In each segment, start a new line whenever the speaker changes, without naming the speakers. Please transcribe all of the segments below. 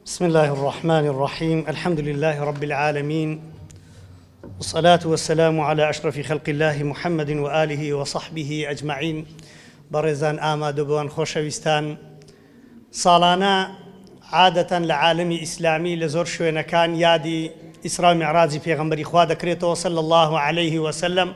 بسم اللە الرحمن الرحیم الحمد للە رب العالمین والصلاة والسلام علی اشرف خلق اللە محمد وآله وصحبه اجمعین بەڕێزان ئامادەبوان خۆشەویستان ساڵانە عادەتەن لە عالمی ئیسلامی لە زۆر شوێنەکان یادی ئیسرا و معراجی پێغەمبەری خوا دەکرێتەوە صلی الله عليه وسلم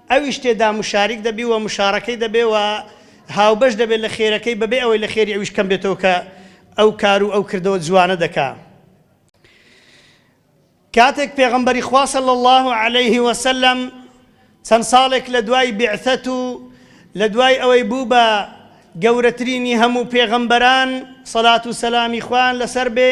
ئەویش تێدا مشاریک دەبی و مشارەکەی دەبێ و هاوبەش دەبێ لە خێرەکەی بەبێ ئەوەی لە خێری ئەویش کەم بێتەوە کە ئەو کار و ئەو کردەوە جوانە دەکا. کاتێک پێغەمبەری خوا صلی اللە علیە وسلم چەند ساڵێک لە دوای بیعثەت و لە دوای ئەوەی بوو بە گەورەترینی هەموو پێغەمبەران صلات و سەلامی خوایان لەسەر بێ،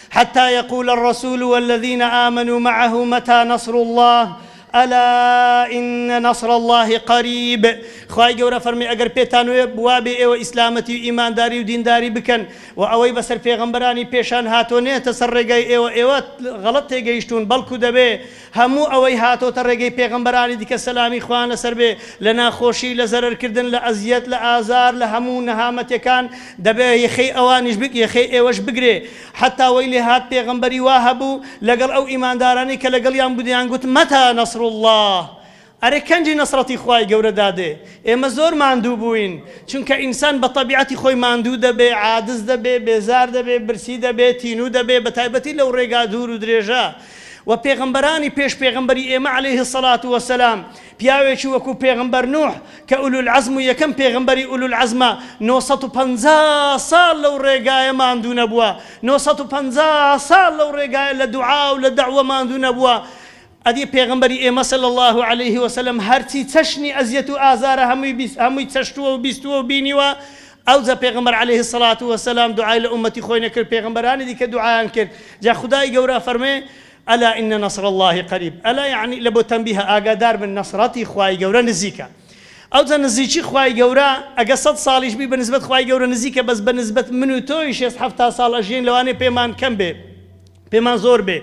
حتی یقول الرسول والذین آمنوا معه متی نصر اللە الا ان نصر اللە قریب خوای گەورە فەرمی ئەگەر پێتان وابێ ئێوە ئیسلامەتی و ئیمانداری و دینداری بکەن و ئەوەی بەسەر پێغەمبەرانی پێشان هاتوە نەیەتە سەر ڕێگای ئێوە ئێوە غەڵەت تێگەیشتون بەڵکو دەبێ هەموو ئەوەی هاتۆتە ڕێگەی پێغەمبەرانی دیکە سەلامی خوان لەسەر بێ لە ناخۆشی لە زەرەر کردن لە ئەزیەت لە ئازار لە هەموو نەهامەتیەکان دەبێ یەخەی ئەوانیش بگ یەخەی ئێوەش بگرێ حەتا وەی لێ هات پێغەمبەری وا هەبوو لەگەڵ ئەو ئیماندارانەی کە لەگەڵیان بوو دەیان گوت مەتا نەسڕوڵڵا ئەرێ کەنجی نەسڕەتی خوای گەورە دادێ ئێمە زۆر ماندوو بووین چونکە ئینسان بە تەبیعەتی خۆی ماندوو دەبێ عادز دەبێ بێزار دەبێ برسی دەبێ تینوو دەبێ بە تایبەتی لەو ڕێگا دوور و درێژە وە پێغەمبەرانی پێش پێغەمبەری ئێمە علیە الصلوە و السلام پیاوێکی وەکو پێغەمبەر نوح کە ئولو العزم و یەکەم پێغەمبەری ئولو العزمە نۆ سەد و پەنجا ساڵ لەو ڕێگایە ماندوو نەبووە نۆ سەد و پەنجا ساڵ لەو ڕێگایە لە دوعا و لە دەعوە ماندوو نەبووە ئەدی پێغەمبەری ئێمە صلی اللە علیە وسلم هەرچی چەشنی ئەزیەت و ئازارە هەمووی بیست هەمووی چەشتووە و بیستووە و بینیوە ئەوجە پێغەمبەر علیە الصلوة والسلام دوعای لە ئومەتی خۆی نەکرد پێغەمبەرانی دیکە دوعایان کرد جا خودای گەورە ئەفەرموێ الا ان نصر اللە قریب الا یەعنی لە بۆ تەنبیهە ئاگادار بن نەسڕەتی خوای گەورە نزیکە ئەوجە نزیکی خوای گەورە ئەگە سەد ساڵیش بی بە نسبەت خوای گەورە نزیکە بەس بە نسبەت من و تۆی شێست حەفتا ساڵ ئەژیین لەوانەیە پێمان کەم بێ پێمان زۆر بێ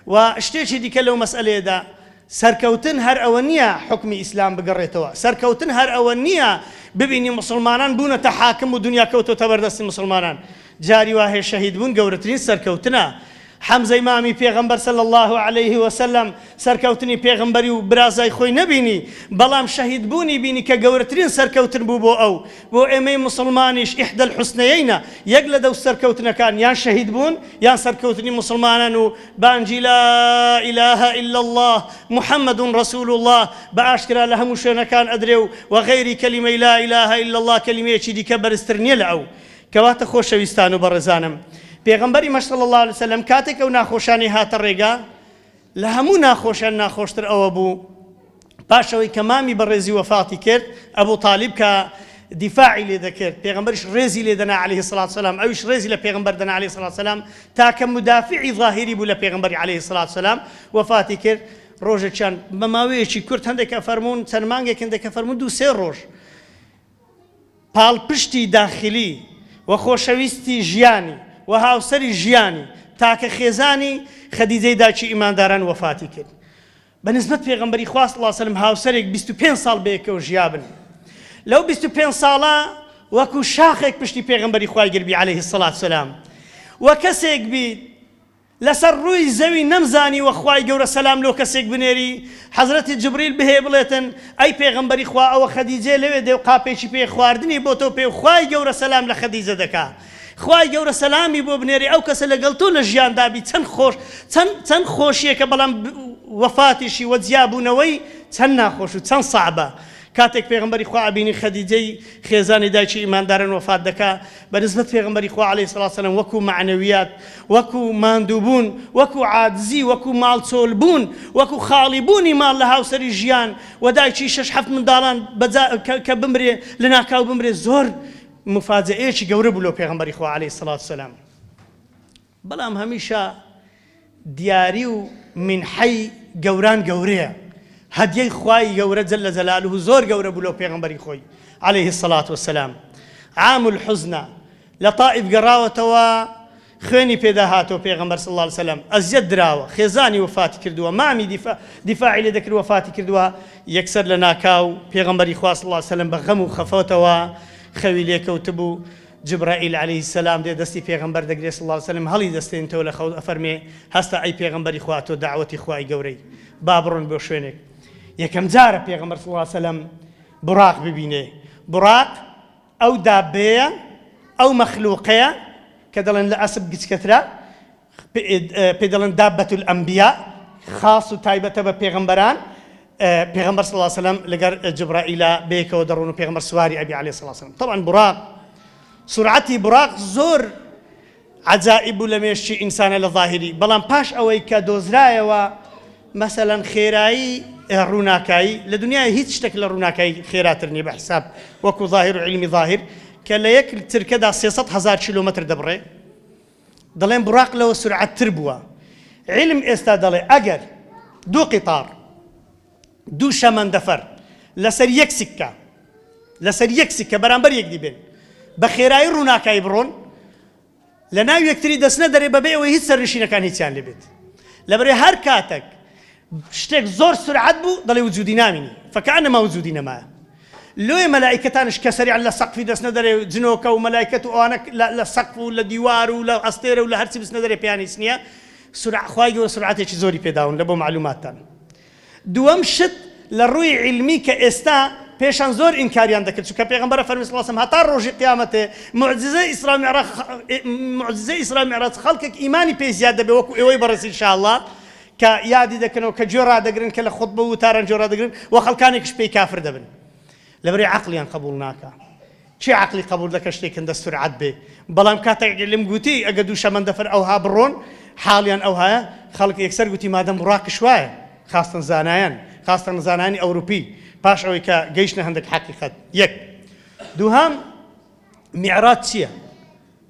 و شتێکی دیکە لەو مەسئەلەیەدا سەرکەوتن هەر ئەوە نییە حوکمی ئیسلام بگەڕێتەوە، سەرکەوتن هەر ئەوە نییە ببینی موسڵمانان بوونەتە حاکم و دونیا کەوتۆتە بەر دەستی موسڵمانان، جاری وا هەیە شەهید بوون گەورەترین سەرکەوتنە، حەمزەی مامی پێغەمبەر صلی اللە علیە و سلم سەرکەوتنی پێغەمبەری و برازای خۆی نەبینی، بەڵام شەهید بوونی بینی کە گەورەترین سەرکەوتن بوو بۆ ئەو، بۆ ئێمەی موسڵمانیش احدی الحسنیینە، یەک لە دەو سەرکەوتنەکان یان شەهید بوون یان سەرکەوتنی موسڵمانان و بانگی لا الە الا اللە محمد رسول اللە بە ئاشکرا لە هەموو شوێنەکان ئەدرێ و وە غەیری کەلیمەی لا الە الا اللە کەلیمەیەکی دیکە بەرزتر نیە لە ئەو. کەواتە خۆشەویستان و بەڕێزانم پێغەمبەریمەش صلی اللە علیە وسلم کاتێک ئەو ناخۆشانەی هاتە ڕێگا، لە هەموو ناخۆشیان ناخۆشتر ئەوە بوو پاش ئەوەی کە مامی بەڕێزی وەفاتی کرد، ئەبو تالیب کە دیفاعی لێ دەکرد، پێغەمبەریش ڕێزی لێ دەنا علیە الصلوة والسلام، ئەویش ڕێزی لە پێغەمبەر دەنا علیە الصلوة والسلام، تاکە مدافعی ظاهری بوو لە پێغەمبەری علیە الصلوة والسلام، وەفاتی کرد، ڕۆژێکیان بە ماوەیەکی کورت هەندێک ئەفەرموون چەند مانگێکن دەکەفەرموون دوو سێ ڕۆژ، پاڵپشتی داخلی و خۆشەویستی ژیانی و هاوسەری ژیانی تاکە خێزانی خەدیجەی دایکی ئیمانداران وەفاتی کرد بە نسبەت پێغەمبەری خوا صلی اللە علیە وسلم هاوسەرێک بیست و پێنج ساڵ بەیەکەوە ژیابن لەو بیست و پێنج ساڵە وەکو شاخێک پشتی پێغەمبەری خوای گربی علیه الصلاة والسلام و کەسێک بیت لەسەر ڕووی زەوی نەمزانیوە خوای گەورە سەلام لۆ کەسێک بنێری حەزرەتی جبریل بهێ بڵێتن ئەی پێغەمبەری خوا ئەوە خەدیجەیە لەوێ دێ و قاپێکی پێیە خواردنی بۆتۆ پێ و خوای گەورە سەلام لە خەدیجە دەکا خوای گەورە سەلامی بۆ بنێری ئەو کەسە لەگەڵ تۆ لە ژیاندا بی چەند خۆش چەند چەند خۆشیەکە بەڵام وەفاتیشی وە جیابوونەوەی چەند ناخۆش و چەند سەعبە کاتێک پێغەمبەری خوا ئەبینی خەدیجەی خێزانی دایکی ئیمانداران وەفات دەکا، بە نسبەت پێغەمبەری خوا علیە سڵات سلام وەکو مەعنەویات، وەکو ماندوو بوون، وەکو عاجزی، وەکو ماڵ چۆل بوون، وەکو خاڵی بوونی ماڵ لە هاوسەری ژیان و دایکی شەش حەفت منداڵان بە جا کە بمرێ لە ناکاو بمرێ زۆر مفاجەئەیەکی گەورە بوو لۆ پێغەمبەری خوا علیە سڵات سلام. بەڵام هەمیشە دیاری و مینحەی گەوران گەورەیە، هەدیەی خوای گەورە جل جلالە زۆر گەورە بوو لۆ پێغەمبەری خۆی علیە الصلوة و السلام، عام الحزنە لە طائف گەڕاوەتەوە خوێنی پێدا هاتووە پێغەمبەر صلی اللە علیە وسلم ئەزیەت دراوە خێزانی وەفاتی کردووە مامی دیفاعی لێ دەکرد وەفاتی کردووە یەکسەر لەناکاو پێغەمبەری خوا صلی اللە علیە وسلم بە غەم و خەفەتەوە خەوی لێ کەوتبوو جبرائیل علیە السلام دێ دەستی پێغەمبەر دەگرێ صلی اللە علیە وسلم هەڵی دەستێنێتەوە لە خەوت ئەفەرمێ هەستە ئەی پێغەمبەری خوا تۆ دەعوەتی خوای گەورەی با بڕۆن بۆ شوێنێک یەکەم جارە پێغەمبەر صلی اللە علیە وسلم بوراق ببینێ بوراق ئەو دابەیە ئەو مەخلوقەیە کە دەڵێن لە ئەسپ گچکەترە پێی دەڵێن دابەت الانبیاء، خاص و تایبەتە بە پێغەمبەران، پێغەمبەر صلی اللە علیە وسلم لەگەر جبرائیلە بەیەکەوە دەڕۆن و پێغەمبەر سواری ئەبی علیە الصلوة والسلام، طبعا بوراق سرعەتی بوراق زۆر عجائب بوو لە مێشکی ئینسانە لە ظاهری، بەڵام پاش ئەوەی کە دۆزرایەوە مەسەلا خێرایی ڕووناکایی لە دنیای هیچ شتێک لە ڕووناکایی خێراتر نیە بە حیساب وەکو ظاهر و عیلمی ظاهر کە لە یەک چرکەدا سێ سەد هەزار کیلۆمەتر دەبڕێ، دەڵێن بوراق لەوە سورعەت تر بووە عیلم ئێستا دەڵێ ئەگەر دوو قیتار دوو شەمەندەفەر لەسەر یەک سکە لەسەر یەک سکە بەرامبەر یەکدی بێن بە خێرایی ڕووناکایی بڕۆن لە ناو یەکتری دەستنە دەرێ بەبێ ئەوەی هیچ سەرنشینەکان هیچیان لێ بێت لەبەرێ هەر کاتەک شتێک زۆر سرعەت بوو دەڵێ وجودی نامینی فکانما وجودی نەمایە لۆیە مەلائیکەتانش کە سەریعن لە سەقفی دەچنە دەرێ و جنۆکە و مەلائیکەت و ئەوانە لە لە سەقف و لە دیوار و لە ئەستێرە و لە هەرچی بچنە دەرێ پێیان هیچ نییە سرع خوای گەورە سرعەتێکی زۆری پێ داون لە بۆ معلوماتتان دووەم شت لە ڕووی عیلمی کە ئێستا پێشان زۆر ئینکاریان دەکرد چونکە پێغەمبەر فەرمی صلی الله علیه و سلم هەتا ڕۆژی قیامەتێ معجزە ئیسرا معراج معجزە ئیسرا معراج خەڵکێک ئیمانی پێی زیاد دەبێ وەکو ئێوەی بەڕێز ان شاء اللە کە یادی دەکەنەوە کە گوێ ڕادەگرن کە لە خوتبە و وتاران گوێ ڕادەگرن وە خەڵکانێکیش پێی کافر دەبن لەبەرەی عەقڵیان قەبوڵ ناکا کێ عەقڵی قەبوڵ دەکا شتێک هەندە سورعەت بێ بەڵام کاتێک عیلم گوتی ئەگە دوو شەمەندەفەر ئەوها بڕۆن حاڵیان ئەوهایە خەڵک یەکسەر گوتی مادەم بوڕاقیش وایە خاستن زانایان خاستن زانایانی ئەوروپی پاش ئەوەی کە گەیشتنە هەندێک حەقیقەت یەک دووهەم میعراج چییە؟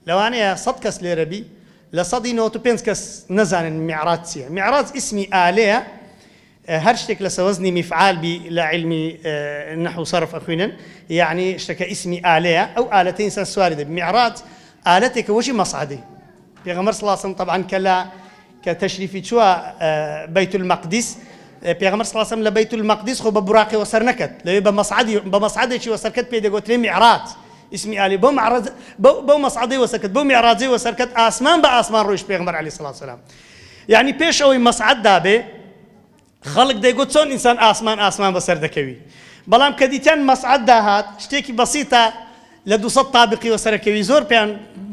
لەوانەیە سەد کەس لێرە بی لە سەدی نەوەتو پێنج کەس نەزانن میعراج چیە میعراج ئیسمی ئالەیە هەر شتێک لەسە وەزنی میفعال بی لە عیلمی نەحو سەرف ئەخوینن یەعنی شتەکە ئیسمی ئالەیە ئەو ئالەتەی ئینسان سواری دەبی میعراج ئالەتێکە وەکی مەسعەدی پێغەمبەر صلی اللە علیە وسلم تەبعەن کە لە کە تەشریفی چوە بەیت المەقدیس پێغەمبەر صلی اللە علیە و سلم لە بەیت المەقدیس خۆ بە بوراقیەوە سەر نەکەت لەوێ بە مەصعدی بە مەصعدێکی وە سەرکەت پێی دەگۆترێ میعراج اسمی عالی بەو معرج بەو بەو مەصعدەی وە سەرکەت بەو میعراجەی وە سەرکەت ئاسمان بە ئاسمان ڕۆیشت پێغەمبەر علی صلی اللە علیە و سلم یەعنی پێش ئەوەی مەصعد دابێ خەڵک دەیگوت چۆن ئینسان ئاسمان ئاسمان بەسەر دەکەوی؟ بەڵام کە دیتیان مەسعەد داهات شتێکی بەسیتە لە دوو سەد تابقی وەسەر ئەکەوی زۆر پێیان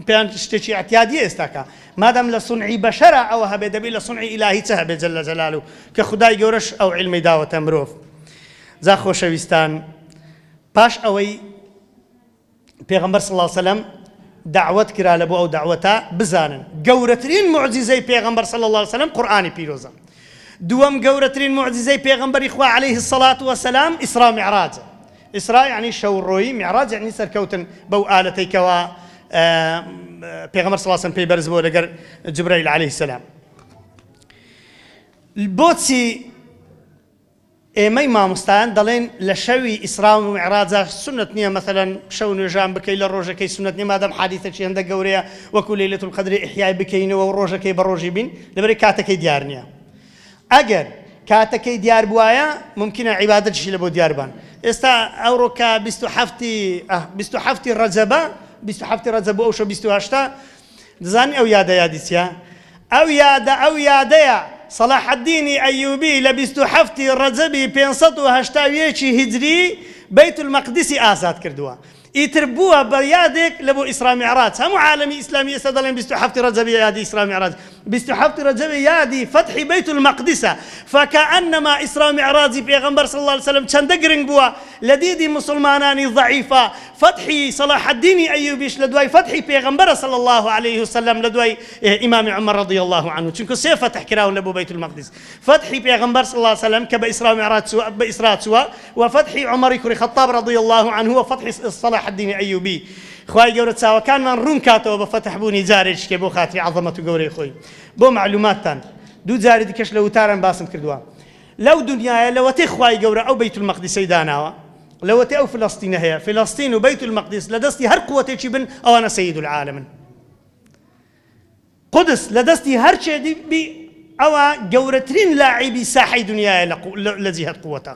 پێیان شتێکی ئیعتیادیە ئێستاکە مادام لە سونعی بەشەرا ئەوە هەبێت دەبی لە سونعی ئیلاهی چ هەبێت جل جلالە کە خودای گەورەش ئەو عیلمەی داوەتە مرۆڤ جا خۆشەویستان پاش ئەوەی پێغەمبەر صلی اللە علیە وسلم دەعوەت کرا لەبۆ ئەو دەعوەتە بزانن گەورەترین معجیزەی پێغەمبەر صلی اللە علیە وسلم قورئانی پیرۆزە دووەم گەورەترین معجیزەی پێغەمبەری خوا علیه الصلاة والسلام ئیسرا و معراج ئیسرا یعنی شەوڕۆی معراج یعنی سەرکەوتن بەو ئالەتەی کەوا پێغەمبەر صلی اللە علیه وسلم پێی بەرز بۆ لەگەر جبرائیل علیه السلام بۆچی ئێمەی مامۆستایان دەڵێن لە شەوی ئیسراء و میعراجا سوننەت نیە مەسەلەن شەو نوێژان بکەی لە ڕۆژەکەی سوننەت نیە مادام حادیسەکی هەندەک گەورەیە وەکو لەیلەت القدر ئیحیای بکەینەوە و ڕۆژەکەی بە ڕۆژی بین لەبەرەی کاتەکەی دیار نیە ئەگەر کاتەکەی دیار بوایە مومکینە عیبادەتیشی لەبۆ دیار بان ئێستا ئەوڕۆ کە بیست و حەفتی بیست و حەفتی ڕەجەبە بیست و حەفتی ڕەجەب بۆ ئەو شەو بیست و هەشتە دەزانی ئەو یادە یادی چیە؟ ئەو یادە ئەو یادەیە سەڵاحەدینی ئەیوبی لە بیست و حەفت ی ڕەجەبی پێنج سەد و هەشتا و یەک ی هیجری بەیت المەقدیسی ئازاد کردووە ئیتر بووە بە یادێک لە بۆ ئیسرا میعراج هەموو عالەمی ئیسلامی ئێستا دەڵێن بیست و حەفت ی ڕەجەبیە یادی ئیسرا میعراج بیست و حەفت رەجەبی یادی فەتحی بەیت المەقدسە فەکەئەنەما ئیسراو میعراجی پێغەمبەر صلی اللە علیە وسلم چەندە گرنگ بووە لە دیدی موسڵمانانی ضعیفە فەتحی صلاح الدینی ئەیوبیش لە دوای فەتحی پێغەمبەرە صلی اللە علیە وسلم لە دوای ئیمام عمر رضی اللە عنه چونکە سێ فەتح کراون لە بۆ بەیت المەقدس فەتحی پێغەمبەر صلی اللە علیە وسلم کە بە ئیسراو میعراج چووە بە ئیسرا چووە وە فەتحی عمری کوڕی خەتاب رضی اللە عنه وە فەتحی صلاح الدینی ئەیوبی خوای گەورە چاوەکانمان ڕوون کاتەوە بە فەتح بوونی جارێکیکە بۆ خاتری عەزەمەت و گەورەی خۆی بۆ مەعلوماتتان دوو جاری دیکەش لە وتاران باسم کردووە لەو دنیایە لەوەتەی خوای گەورە ئەو بەیت المەقدیسەی داناوە لەوەتەی ئەو فلەستینە هەیە فلەستین و بەیت المەقدیس لە دەستی هەر قوەتێکی بن ئەوانە سەید العالمن قدس لە دەستی هەر چێدی بی ئەوە گەورەترین لاعیبی ساحەی دنیایە لە جیهت قوەتە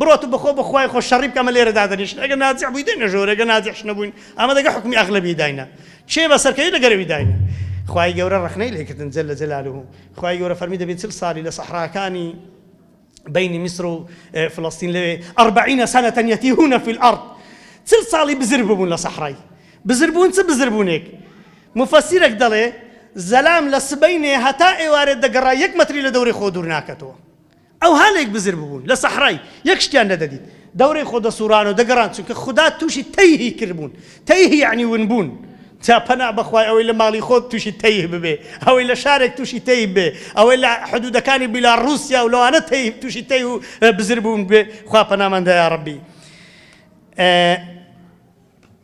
بڕۆ تو بخۆ بەخوای خۆ شەڕی بکە ئەمە لێرە دادەنیشن ئەگەر ناجیح بووی دەینە ژوورێ گەر ناجیحش نەبووین ئەمە دەگە حوکمی ئەغلەبی داینە چێ بەسەر کەوی لە گەرەوی داینە خوای گەورە ڕەخنەی لێ کردن جل جلاله خوای گەورە فەرمی دەبێ چل سالی لە سەحراکانی بینی میسر و فلسطین لەوێ ئەربعینە سەنەتەن یەتیهونە فی الارض چل ساڵی بزر ببوون لە سەحرای بزر بوون چ بزر بوونێک مفەسیرێک دەڵێ زەلام لە سبەینێ هەتا ئێوارێ دەگەڕا یەک مەتری لە دەوری خۆ دوور ناکەتەوە ئەوها لێک بزر ببوون لە سەحرای یەک شتیان نەدەدیت دەورەی خۆ دەسوڕان و دەگەڕان چونکە خودا تووشی تەیهی کردبوون تەیه یەعنی ونبوون جا پەنا بەخوای ئەوەی لە ماڵی خۆت تووشی تەیه ببێ ئەوەی لە شارێک تووشی تەیه بێ ئەوەی لە حدودەکانی بیلا ڕووسیا و لەوانە تەیه تووشی تەیه و بزر بوون بێ خوا پەنامان دە یاڕەبی.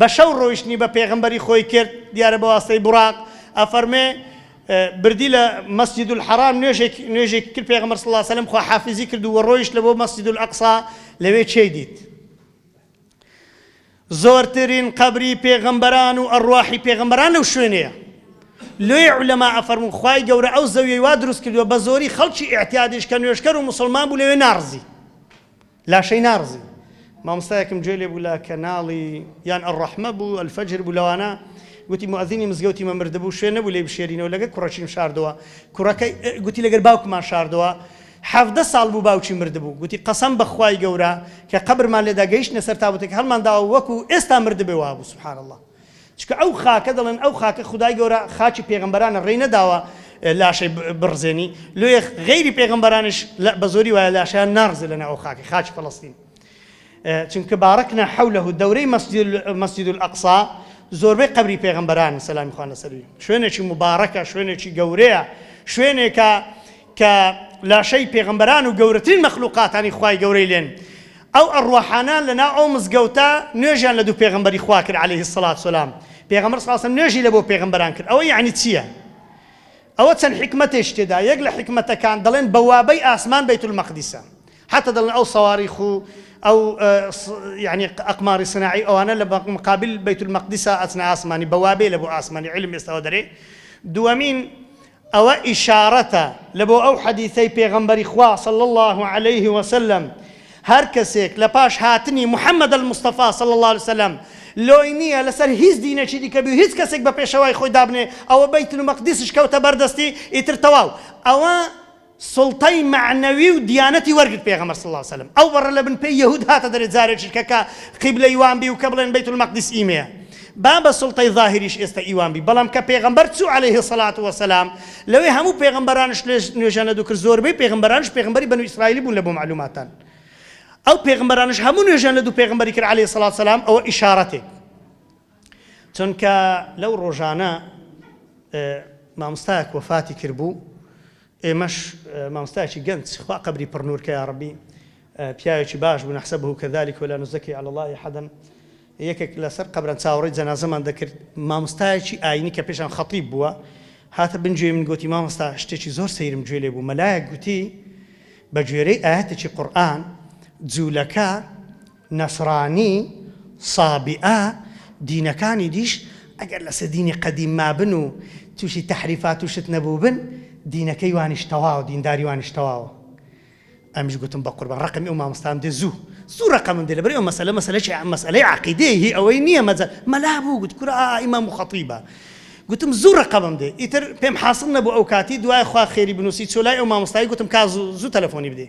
بە شەو ڕۆیشتنی بە پێغەمبەری خۆی کرد، دیارە بە واستەی بوراق، ئەفەرموێ، بردی لە، مسجد الحرام، نوێژێکی کرد پێغەمبەر صلی اللە علیە وسلم خواحافیزی کرد و وە ڕۆیشت لە بۆ مسجد الاقصی لەوێ چێی دیت. زۆرترین قەبری پێغەمبەران و ئەڕواحی پێغەمبەران لەو شوێنەیە. لۆیێ عولەما ئەفەرموون خوای گەورە ئەو زەویەی وا دروست کردووە بە زۆری خەڵکی ئیعتیادیش کە نوێژکەر و موسڵمان بوو لەوێ ناڕزی. لاشەی ناڕزی مامۆستایەکم گوێ لێ بوو لە کەناڵی یان الرحمە بوو الفجر بوو لەوانە گوتی موئەزینی مزگەوتی مە مردبوو شوێن نەبوو لێی بشێلینەوە لەگەر کوڕەکیم شاردەوە کوڕەکە گوتی لەگەر باوکمان شاردەوە حەڤدە ساڵ بوو باوکی مردبوو گوتی قەسەم بە خوای گەورە کە قەبرمان لێدا گەیشتنە سەر تابوتێک هەڵمان داوە وەکو ئێستا مردبێ وابوو سبحان اللە چونکە ئەو خاکە دەڵێن ئەو خاکە خودای گەورە خاکی پێغەمبەرانە ڕێی نەداوە لاشەی بڕزێنی لۆیە غەیری پێغەمبەرانیش بە زۆری وایە لاشەیان ناڕزێ لەناو ئەو خاکە خاکی فەڵەستین چونکە بارەکنا حەولەه دەورەی مەسجد الاقصا زۆربەی قەبری پێغەمبەران سەلامی خوان لەسەری شوێنێکی مبارەکە شوێنێکی گەورەیە شوێنێکە کە لاشەی پێغەمبەران و گەورەترین مەخلوقاتانی خوای گەورەی لێن، ئەو ئەڕواحانە لە ناو ئەو مزگەوتە نوێژیان لە دوو پێغەمبەری خوا کرد علیە الصلوة والسلام پێغەمبەر صلی اللە علیە وسلم نوێژی لە بۆ پێغەمبەران کرد ئەوە یەعنی چییە؟ ئەوە چەند حیکمەتێش تێدا یەک لە حیکمەتەکان دەڵێن بوابەی ئاسمان بەیت المقدسە حتی دەڵێن ئەو صواریخ و ئەو یعنی ئەقماری صناعی ئەوانە لە مقابل بەیت المقدسە ئەچنە ئاسمانی بوابەی لە بۆ ئاسمانی علم ئێستاەوە دەرێ دووەمین ئەوە ئیشارەتە لە بۆ ئەو حەدیسەی پێغەمبەری خوا صلی اللە علیه و سلم، هەر کەسێک لە پاش هاتنی محمد المصطفی صلی اللە علیه و سلم لۆی نیە لەسەر هیچ دینێکی دیکە بی و هیچ کەسێک بە پێشەوای خۆی دابنێ ئەوە بەیت المقدسش کەوتە بەر دەستی ئیتر تەواو ئەوە سوڵتەی مەعنەوی و دیانەتی وەرگرت پێغەمبەر صلی اللە علیە وسلم ئەو بەڕە لە بن پێی یەهود هاتە دەرێ جارێکیش کە کە قیبلەی وان بی و کە بڵێن بیت المقدس ئیمەیە با بە سوڵتەی ظاهریش ئێستا ئیوان بی بەڵام کە پێغەمبەر چوو علیه صلات وسلام لەوێ هەموو پێغەمبەرانش لێش نوێژیان لە دوو کرد زۆربەی پێغەمبەرانش پێغەمبەری بەنو ئیسرائیلی بوون لە بۆ معلوماتان ئەو پێغەمبەرانش هەموو نوێژیان لە دوو پێغەمبەری کرد علیه صلات وسلام ئەوە ئیشارەتێک چونکە لەو ڕۆژانە مامۆستایەک وەفاتی کردبوو ئێمەش مامۆستایەکی گەنج خوا قەبری پڕ نوور کە یاڕەبی پیاوێکی باش بوو نەحسەبه کەذلک ولا نزکی علی الله احدا یەکێک لەسەر قەبران چاوەڕێی جەنازەمان دەکرد مامۆستایەکی ئاینی کە پێشان خەتیب بووە هاتە بن گوێی من گوتی مامۆستا شتێکی زۆر سەیرم گوێ لێ بوو مەلایەک گوتی بە گوێرەی ئاەتێکی قورئان جوولەکە نەسرانی، سابیئە، دینەکانی دیش ئەگەر لەسەر دینی قەدیم مابن و تووشی تەحریفات و شت نەبووبن، دینەکەی وانیش تەواوە، دینداری وانیش تەواوە. ئەمیش گوتم بەقوربان ڕەقەمی ئەو مامۆستام دێ زوو زوو ڕەقەمم دێ لەبەر ئەو مەسەلە مەسەلەی مەسەلەی عەقیدەیە هی ئەوەی نییە مەجە مەلا بوو گوت کورە ئیمام و خەتیبە گوتم زوو ڕەقەمم دێ ئیتر پێم حاسڵ نەبوو ئەو کاتی دوای خوا خێری بنووسی چۆ لای ئەو مامۆستای گوتم کا زوو زوو تەلەفۆنی بدەی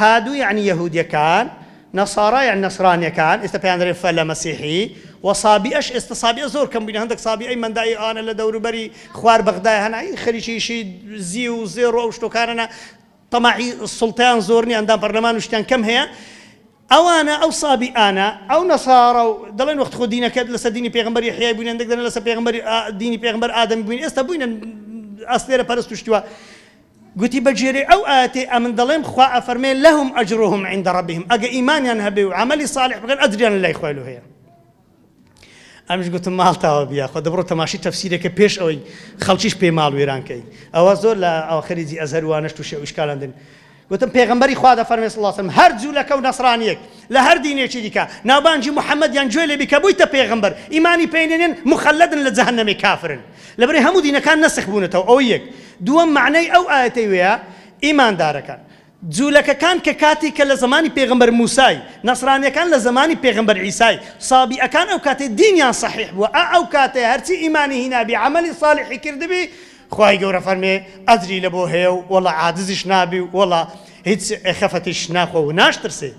هادو یەعنی یەهودیەکان، نەسارا یەعنی نەسرانیەکان، ئێستا پێیان دەرێن فەلە مەسیحی، وە سابیئەش ئێستا سابیئە زۆر کەم بوینە هەندەک سابیئەی مەندا ئی ئانە لە دەورو بەری خوار بەغدایە هەن ئی خەریکی ئیشی زیو و زێرو ئەو شتوکانەنە تەماعی سوڵتەیان زۆر نیە ئەندام پەرلەمان و شتیان کەم هەیە ئەوانە ئەو سابیئانە ئەو نەسارا و دەڵێن وەخت خۆ دینەکەت لەسەر دینی پێغەمبەر یەحیای بوینە هەندەک دەلێن لەسەر پێغەمبەر دینی پێغەمبەر ئادەمی بوینە ئێستا بوینە ئەستێرە پەرست و شتی وا گوتی بە گوێرەی ئەو ئایەتەی ئەمن دەڵێم خوا ئەفەرمێ لەهم ئەجرهم عند ربهم ئەگە ئیمانیان هەبێ و عەمەلی صالح بکەن ئەجریان لە لای خوای لۆ هەیە. ئەمش گوتم ماڵتاوە بیا خۆ دەبڕۆ تەماشی تەفسیرەکە پێش ئەوەی خەڵکیش پێی ماڵ وێران کەی ئەوە زۆر لە ئەوە خەریجی ئەزهەر وانەش تووشی ئیشکالان دێن گوتم پێغەمبەری خوا دەفەرمێ صلی الله علیه و سلم هەر جوولەکە و نەسرانیەک لە هەر دینێکی دیکە ناوبانگی محمدیان گوێ لێ بی کە بوویتە پێغەمبەر ئیمانی پێی نەنێن مخلدن لە جەهەنەمێ کافرن لەبەرئ هەموو دینەکان نەسخ بوونەتەوە ئەوە یەک دووەم مەعنای ئەو ئایەتەی وەیە ئیماندارەکان جولەکەکان کە کاتی کە لە زەمانی پێغەمبەر موسای نەسرانیەکان لە زەمانی پێغەمبەر عیسای سابیئەکان ئەو کاتەی دینیان سەحیح بووە ئا ئەو کاتەیە هەرچی ئیمانی هینابی عەمەلی سالیحی کردبی خوای گەورە فەرمێ ئەجری لەبۆ هەیە و وەڵا عاجزیش نابی و وەڵا هیچ خەفەتیش ناخوا و ناشترسێ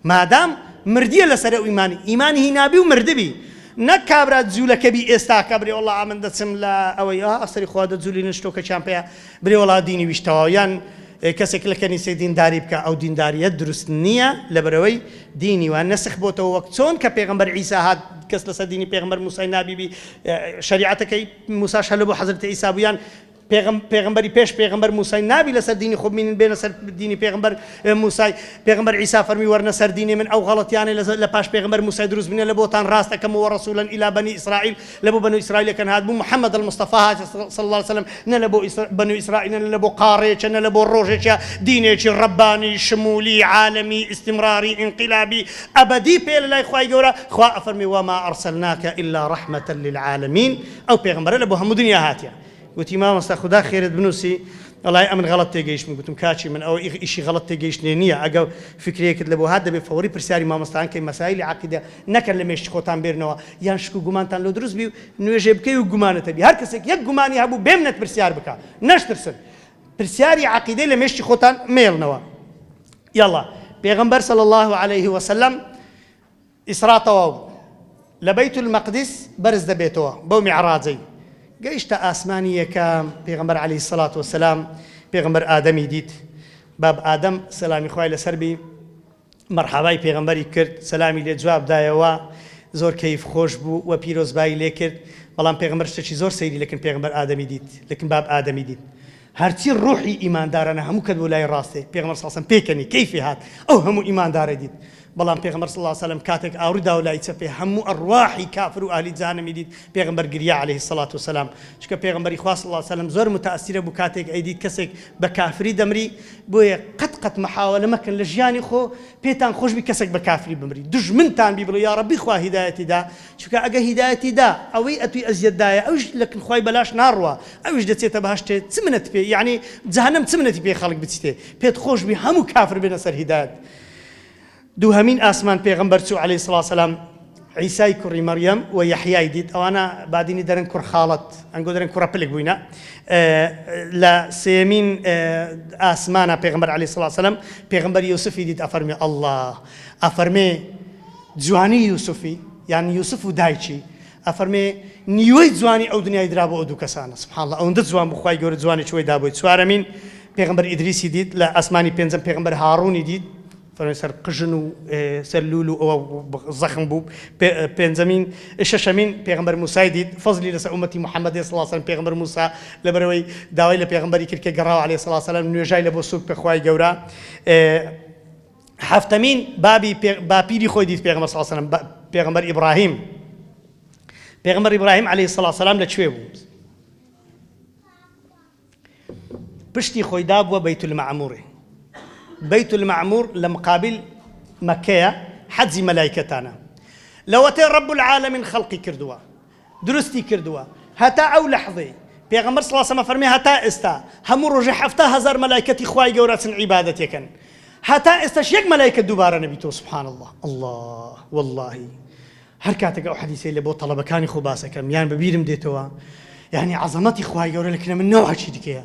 مادام مردیە لەسەر ئەو ئیمانی ئیمانی هینابی و مردبی نەک کابرا جولەکەبی ئێستاکە برێ وەڵا ئەمن دەچم لە ئەوەی ئا ئەفسەری خوا دە جولی نە شتۆکە کیان پێە برێ وەڵا دینی ویش تەواو یان کەسێک لە کەنیسەی دینداری بکە ئەو دینداریە دروست نییە لەبەرەوەی دینی وان نەسخ بۆتەوە وەک چۆن کە پێغمبەر عیسا هات کەس لەسەر دینی پێغمبەر موسای نابیبی شریعەتەکەی موساش هەلە بۆ حەزرەتی عیسا بوویان پێغم پێغمبەری پێش پێغمبەر موسای نابی لەسەر دینی خۆ بمینن بێنە سەر دینی پێغمبەر موسای پێغمبەر عیسا فەرمی وەرنە سەر دینی من ئەو غەڵەتیانە لە لە پاش پێغمبەر موسای دروست بنە لە بۆتان ڕاست ئەکەم وە ڕسولەن ئیلا بەنی ئیسرائیل لە بۆ بەنو ئیسرائیلەکەن هات بوو محمد المصطفی هات صلی الله علیه وسلم نە لە بۆ بەنو ئیسرائیل نە لە بۆ قاڕێچە نە لە بۆ ڕۆژێکە دینێکی ڕەبانی شمولی عالمی ئیستمڕاری ئینقلابی ئەبەدی پێ لەلای خوای گەورە خوا ئەفەرمی وە ما ئەرسەلناکە ئیلا ڕەحمەتە للعالمین ئەو پێغمبەرە لە بۆ هەموو دنیا هاتیە گوتی مامۆستا خودا خێرت بنوسی ئەڵای ئەمن غەڵەت تێگەیشتم گوتم کاکی من ئەوە ئیشی غەڵەت تێگەیشتنێ نیە ئەگەر فکرەیەکت لەبۆ هات دەبێ فەوری پرسیاری مامۆستایان کەی مەسایلی عەقیدە نەکەن لە مێشک خۆتان بێرنەوە یان شک و گومانتان لۆ دروست بی و نوێژێ بکەی و گومانت هەبی هەر کەسێک یەک گومانی هەبوو بێمنەت پرسیار بکا نەشترسن پرسیاری عەقیدەی لە مێشکی خۆتان مێڵنەوە یەڵا پێغەمبەر صلی اللە علیه وسلم ئیسرا تەواو بوو لە بەیت المەقدیس بەرز دەبێتەوە بەو میعڕاجەی گەیشتە ئاسمانی یەکەم پێغەمبەر علیە الصلوة والسلام پێغەمبەر ئادەمی دیت باب ئادەم سەلامی خوای لەسەر بی مەرحەبای پێغەمبەری کرد سەلامی لێ جواب دایەوە زۆر کەیف خۆش بوو و پیرۆزبایی لێ کرد بەڵام پێغەمبەر شتێکی زۆر سەیری لەکن پێغەمبەر ئادەمی دیت لەکن باب ئادەمی دیت هەرچی ڕۆحی ئیماندارانە هەموو کەت بۆ لای ڕاستێ پێغەمبەر صلی سەلم پێکەنی کەیفی هات ئەو هەموو ئیماندارەی دیت بەڵام پێغەمبەر صلی سەلم کاتێک ئاوڕی داو لای چەپێ هەموو ئەڕواحی کافر و ئەهلی جەهەنەمی دیت پێغەمبەر گریا علیە الصلوة والسلام چونکە پێغەمبەری خوا صلی سەلم زۆر متاثرە بوو کاتێک ئەیدیت کەسێک بە کافری دەمری بۆیە قەت قەت محاوەلە مەکەن لە ژیانی خۆ پێتان خۆش بی کەسێک بە کافری بمری دوژمنتان بی بڵێ یاڕەبی خوا هیدایەتی دا چونکە ئەگە هیدایەتی دا ئەوەی ئەتوی ئەزیەت دایە ئەویش لە کن خوای بەلاش ناڕوا ئەویش دەچێتە بەهەشتێ چ منەت پێ یەعنی جەهەنەم چ منەتی پێ خەڵک بچیتێ پێت خۆش بی هەموو کافر بێنە سەر هیدایەت دووهەمین ئاسمان پێغەمبەر چوو عەلەیهی سڵاو سەلام عیسای کوڕی مەڕیەم و یەحیای دیت ئەوانە بادینی دەرن کوڕ خاڵەت ئەنگۆ دەرن کوڕە پلک بووینە لە سێمین ئاسمانە پێغمبەر علی سڵ سلم پێغمبەر یوسفی دیت ئەفەرمی ئەله ئەفەرمێ جوانی یوسفی یان یوسف و دایکی ئەفەرمێ نیوەی جوانی ئەو دنیای درا بۆ ئەو دوو کەسانە سبحان اللە ئەوەندە جوان بوو خوای گەورە جوانێکی وەی دا بۆی چوارەمین پێغەمبەر ئیدریسی دیت لە ئاسمانی پێنجەم پێغەمبەر هاڕوونی دیت فەرمێ سەر قژن و سەر لول و ئەوە زەخم بوو پێنجەمین شەشەمین پێغەمبەر موسای دیت فەزلی لەسەر ئومەتی محەممەد صلی الله علیه و پێغەمبەر موسا لەبەرەوەی داوای لە پێغەمبەری کرد کە گەڕاو علیه الصلاة والسلام نوێژای لە بۆ سوک پێخوای گەورە حەفتەمین بابی پێ باپیری خۆی دیت پێغەمبەر صلی اللە علیە و سلم پێغەمبەر ئیبراهیم پێغەمبەر ئیبراهیم علیە الصلوة والسلام لە کوێ بوو پشتی خۆی دابووە بەیت المعموری بەیت المعمور لە مقابل مەکەیە حەجی مەلایکەتانە لەوەتێ رب العالمین خەڵقی کردووە دروستی کردووە هەتا ئەو لەحزەی پێغەمبەر صلی اللە علیە وسلم ئەفەرمێ هەتا ئێستا هەموو ڕۆژێ حەفتا هەزار مەلایکەتی خوای گەورە ئەچن عیبادەتی ئەکەن هەتا ئێستاش یەک مەلایکەت دووبارە نەبیتەوە سبحان اللە اللە واللەهی هەر کاتێک ئەو حەدیسەی لە بۆ تەڵەبەکانی خۆ باس ئەکەم یان بە بیرم دێتەوە یانی عەزەمەتی خوای گەورە لە کنە من نەوعەکی دیکەیە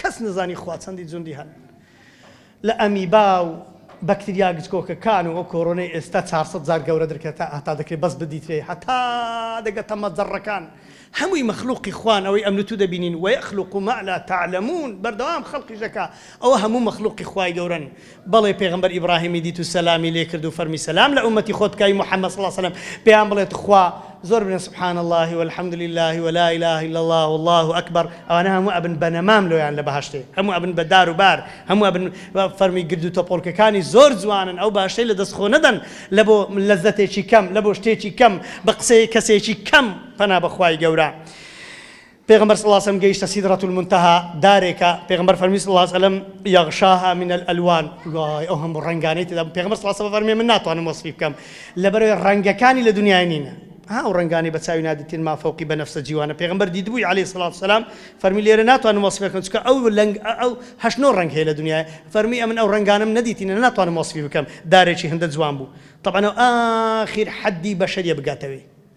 کەس نەزانی خوا چەندی جوندی هەن لە ئەمیبا و بەکتریا گچکۆکە کان و ئەو کۆرۆنەی ئێستا چار سەد جار گەورە درکە تا هەتا دەکرێ بەس بدیترێ هەتا دەگەتە مەجەڕەکان هەمووی مەخلوقی خوان ئەوەی ئەمن تو دەبینین وەیەخلوقو مەلا تەعلەمون بەردەوام خەڵقیش دەکا ئەوە هەموو مەخلوقی خوای گەورەن بەڵێ پێغەمبەر ئیبڕاهیمی دیت و سەلامی لێ کرد و فەرمی سەلام لە ئومەتی خۆت بکە ئەی محمد صلی اللە علیە وسلم پێیان بڵێ تخوا زۆر بنێن سبحان اللە و الحمد للە و لا الە الا اللە و اللە اکبر ئەوانە هەموو ئەبن بە نەمام لۆیان لە بەهەشتێ هەموو ئەبن بە دار و بار هەموو ئەبن فەرمی گرد و تەپۆڵکەکانی زۆر جوانن ئەو بەهەشتەی لە دەست خۆ نەدەن لە بۆ لەزەتێکی کەم لە بۆ شتێکی کەم بە قسەی کەسێکی کەم پەنا بەخوای گەورە پێغەمبەر صلی اللە علیە وسلم گەیشتە سیدرە المنتهی، دارێکە، پێغەمبەر فەرمی صلی اللە علیە وسلم، یغشاها من الالوان، وای ئەو هەموو ڕەنگانەی تێدا بوو، پێغەمبەر صلی اللە علیە وسلم فەرمی، من ناتوانم وەسفی بکەم، لەبەرئەوەی ڕەنگەکانی لە دنیای نینە، ها ئەو ڕەنگانەی بە چاوی نادیتن ما فوقی بنفس جیوانە، پێغەمبەر دیتبووی علیە الصلوة والسلام، فەرمی، لێرە ناتوانم وەسفی بکەم، چونکە ئەو لەنگ ئەو هەشت نۆ ڕەنگ هەیە لە دنیا، فەرمی، ئەمن ئەو ڕەنگانەم نەدیتنە ناتوانم وەسفی بکەم، دارێکی هندە جوان بوو، تەبعەن ئەو ئاخیر حەدی بەشەریە بگاتەوی.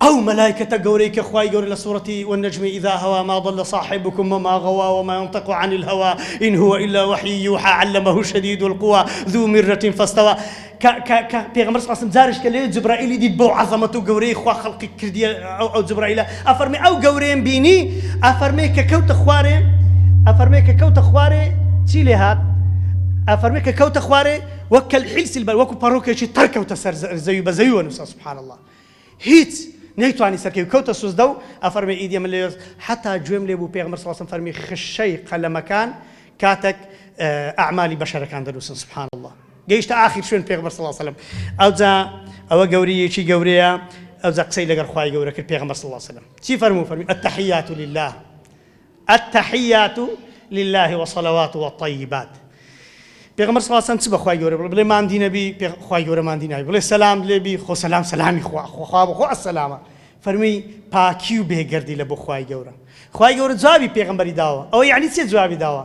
ئەو مەلایکەتە گەورەی کە خوای گەورە لە سورەتی، والنجم اذا هوا ما ضل صاحبکم وما غوا وما ينطق عن الهوا ان هو الا وحی یوحی علمه شدید القوا ذو مرة فاستوا، کە کە کە پێغەمبەر صلی اللە علیە وسلم جارێک کە لەوێ جبرائیلی دیت بەو عەزەمەت و گەورەیەی خوا خەڵقی کردیە ئەو ئەو جبرائیلە ئەفەرمێ ئەو گەورەیەم بینی ئەفەرمێ کە کەوتە خوارێ ئەفەرمێ کە کەوتە خوارێ چی لێ هات ئەفەرمێ کە کەوتە خوارێ وە کەلحیلسیل بەر وەکو پەڕۆکێکی تەڕ کەوتە سەر زەوی بە زەوی وەنوسا سبحان اللە. هیچ نەیتوانی سەرکەوی و کەوتە سوزدە و ئەفەرمێ ئیدی من لەوێ حەتا گوێم لێ بوو پێغەمبەر صلی اللە فەرمی خشەی قەلەمەکان کاتەک ئەعمالی بەشەرەکان دەنوسن سبحان اللە گەیشتە ئاخیر شوێن پێغەمبەر صلی اللە علیە و سلم ئەوجا ئەوە گەوریەکی گەورەیە ئەوجا قسەی لەگەر خوای گەورە کرد پێغەمبەر صلی اللە علیە و سلم چی فەرموو فەرمی التحیات للە التحیات للە و الصلوات و الطیبات پێغەمبەر صلی اللە علیە و سلم چ بەخوای گەورە بڵێ بڵێ ماندی نەبی پێغ خوای گەورە ماندی ناوی بڵێ سەلام لێ بی خۆ سەلام سەلامی خوا خۆ خوا بخۆ ئەسەلامە فەرمی پاکی و بێگەردی لە بۆ خوای گەورە خوای گەورە جوابی پێغەمبەری داوە ئەوە یەعنی چیە جوابی داوە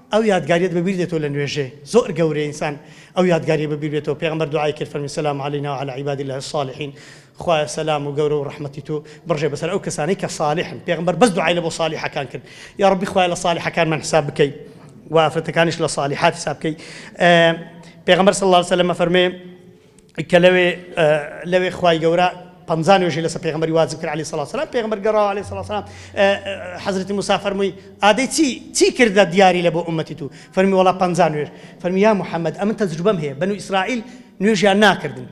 ئەو یادگاریەت بەبیر دێتەوە لە نوێژێ زۆر گەورەیە ئینسان ئەو یادگاریە بەبیر بێتەوە پێغەمبەر دوعای کرد فەرمی سلام علینا و علی عباد اللە الصالحین خوایە سەلام و گەورە و ڕەحمەتی تۆ بڕژێ بەسەر ئەو کەسانەی کە صالحن پێغەمبەر بەس دوعای لە بۆ صالحەکان کرد یا ڕبی خوایە لە صالحەکانمان حساب بکەی و ئافرەتەکانیش لە صالحات حساب بکەی پێغەمبەر صلی الله علیه وسلم فەرمێ کە لەوێ لەوێ خوای گەورە پەنجا نوێژی لەسەر پێغەمبەری واجب کرد علی صلی الله سلام پێغەمبەر گەڕاوە علی صلی سلام حضرت موسی فەرمووی ئادەی چی چی کردە دیاری لە بۆ ئومەتی تو فەرمی وڵا پەنجا نوێژ فەرمی یا محەممەد ئەمن تەجروبەم هەیە بەنو ئیسرائیل نوێژیان ناکردن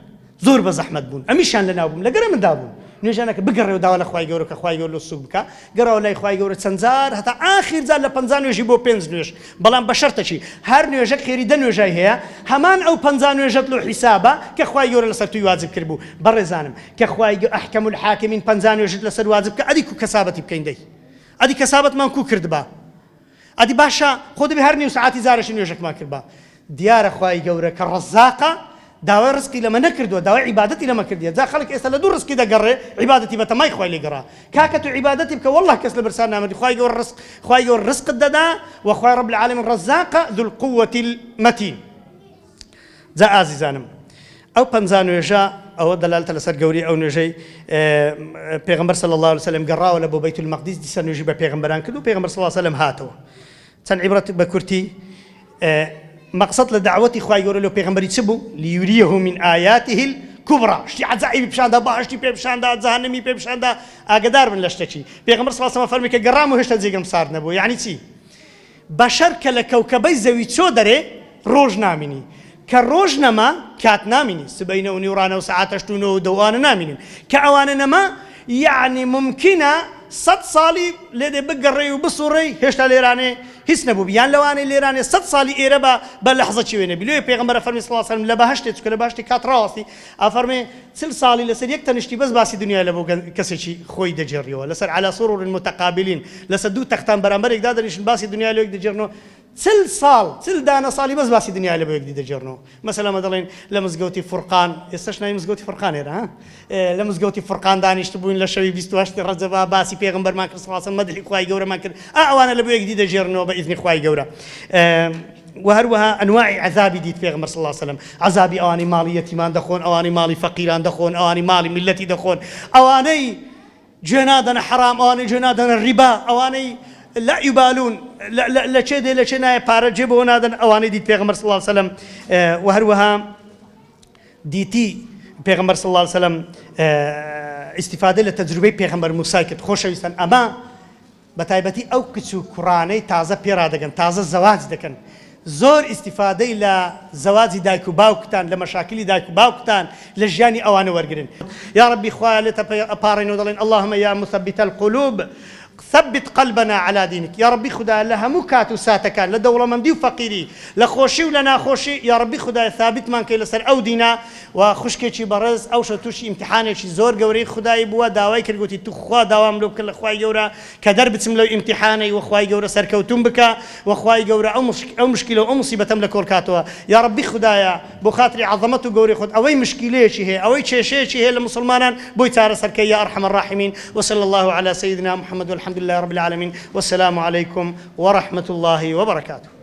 زۆر بە زەحمەت بوون ئەمیشان لەناو بووم لەگەرە مندا بوون نوێژانەکە بگەڕێ و داوا لە خوای گەورە کە خوای گەورە لۆ سوک بکە گەڕاوە لای خوای گەورە چەند جار هەتا ئاخیر جار لە پەنجا نوێژی بۆ پێنج نوێژ بەڵام بە شەرتەکی هەر نوێژەک خێری دە نوێژای هەیە هەمان ئەو پەنجا نوێژەت لۆ حیسابە کە خوای گەورە لەسەر توی واجب کردبوو بەڕێزانم کە خوای گە احکم الحاکمین پەنجا نوێژت لەسەر واجب کە ئەدی کو کەسابەتی بکەین دەی ئەدی کەسابەتمان کو کردبا ئەدی باشە خۆ دەبێ هەر نیو سەعاتی جارەشی نوێژەکمان کردبا. دیارە خوای گەورە کە ڕەزاقە داوای ڕزقی لەمە نەکردووە داوای عیبادەتی لەمە کردیە جا خەڵک ئێستا لە دوو ڕزقی دەگەڕێ عیبادەتی بە تەمای خوای لێ گەڕا کاکە تۆ عیبادەتی بکە واللە کەس لە برسان نامردی خوای گەورە ڕزق خوای گەورە ڕزقت دەدا و خوای رب العالمین ڕەزاقە ذو القووە المتین. جا ئازیزانم ئەو پەنجا نوێژە ئەوە دەلالەتە لەسەر گەوری ئەو نوێژەی پێغەمبەر صلی اللە علیە وسلم گەڕاوە لە بۆ بیت المقدس دیسە نوێژی بە پێغەمبەران کرد و پێغەمبەر صلی اللە علیە وسلم هاتەوە چەند عیبرەت بە کورتی مقصد لە دعوەتی خوای گەورە لە پێغەمبەری چ بوو لیوریه من آیاته الكبرى شتی عجائبی پیشاندا بەهشتی پێ پیشاندا جهنمی پێ پیشاندا ئاگدار بن لە شتەکی پێغەمبەر صلی اللە علیه وسلم فەرمی کە گەڕام و هێشتا جێگەم سارد نەبوو یعنی چی بەشەر کە لە کەوکەبەی زەوی چۆ دەرێ ڕۆژ نامینی کە ڕۆژ نەما کات نامینی سبەینە و نیوڕانە و سەعات هەشت و نۆ و دە و ئەوانە نامینن کە ئەوانە نەما یەعنی مومکینە سەد ساڵی لێدێ بگەڕێی و بسوڕێی هێشتا لێرانێ هیچ نەبووبی یان لەوانەی لێرانێ سەد ساڵی ئێرە بە بە لەحزەکی وێ نەبی لۆیە پێغەمبەر ئەفەرمی سڵاو سەلم لە بەهەشتێ چکە لە بەهەشتی کات ڕاوەستی ئەفەرمێ چل ساڵی لەسەر یەک تەنشتی بەس باسی دنیای لە بۆ کەسێکی خۆی دەگێڕیەوە لەسەر علی سرر متقابلین لەسە دوو تەختان بەرامبەرێک دادەنیشن باسی دنیای لۆ یەک دەگێڕنەوە چل ساڵ چل دانە ساڵی بەس باسی دنیای لە بۆ یەکدی دەگێڕنەوە مەسەلەن ئەمە دەڵێن لە مزگەوتی فرقان ئێستاش ناوی مزگەوتی فرقان هێرە ها لە مزگەوتی فرقان دانیشتبووین لە شەوی 28 ڕەجەبا باسی پێغەمبەرمان کرد سڵاسە مەدحی خوای گەورەمان کرد ئا ئەوانە لە بۆ یەکدی دەگێڕنەوە بە ئیزنی خوای گەورە وە هەروەها ئەنواعی عەزابی دیت پێغەمبەر صلی اللە علیە وسلم عەزابی ئەوانەی ماڵی یەتیمان دەخۆن ئەوانەی ماڵی فەقیران دەخۆن ئەوانەی ماڵی میللەتی دەخۆن ئەوانەی جوێ نادەنە حەرام ئەوانەی جوێ نادەنە ڕیبا ئەوانەی لا یبالون لە چێ دێ لە چێ نایە پارە جێ بەوە نادەن ئەوانەی دیت پێغەمبەر صلی اللە علیە وسلم وە هەروەها دیتی پێغەمبەر صلی اللە علیە وسلم ئیستیفادە لە تەجروبەی پێغەمبەر موسی کرد خۆشەویستان ئەمە بەتایبەتی ئەو کچ و کوڕانەی تازە پێرادەگەن تازە زەواج دەکەن زۆر ئیستیفادەی لە زەواجی دایک و باوکتان لە مەشاکلی دایک و باوکتان لە ژیانی ئەوانە وەرگرن یاڕەبی خوایە لێتە ئەپاڕێنەوە دەڵێن اللهم یا مثبت القلوب ثبت قلبنا علی دینک یاڕەبی خودایە لە هەموو کات و ساتەکان لە دەوڵەمەندی و فەقیری لە خۆشی و لە ناخۆشی یاڕەبی خودایە ثابتمان کەی لەسەر ئەو دینە و خوشکێکی بەڕێز ئەوشەو توشی ئیمتیحانێکی زۆر گەورەی خودایی بووە داوای کرد گۆتی توخوا داوام لۆ بکە لە خوای گەورە کە دەربچم لەو ئیمتیحانەی وە خوای گەورە سەرکەوتوم بکە وە خوای گەورە ئەو مشکیلەو ئەو موسیبەتەم لە کۆل کاتەوە یاڕەبی خودایە بۆ خاتری عەزەمەت و گەورەی خۆت ئەوەی مشکیلەیەکی هەیە ئەوەی کێشەیەکی هەیە لە موسڵمانان بۆی چارەسەر کە یا ارحم الراحمین وصلی اللە علی سیدنا محمد والحمد للە رب العالمین والسلام علیکم ورحمة اللە وبرکاته.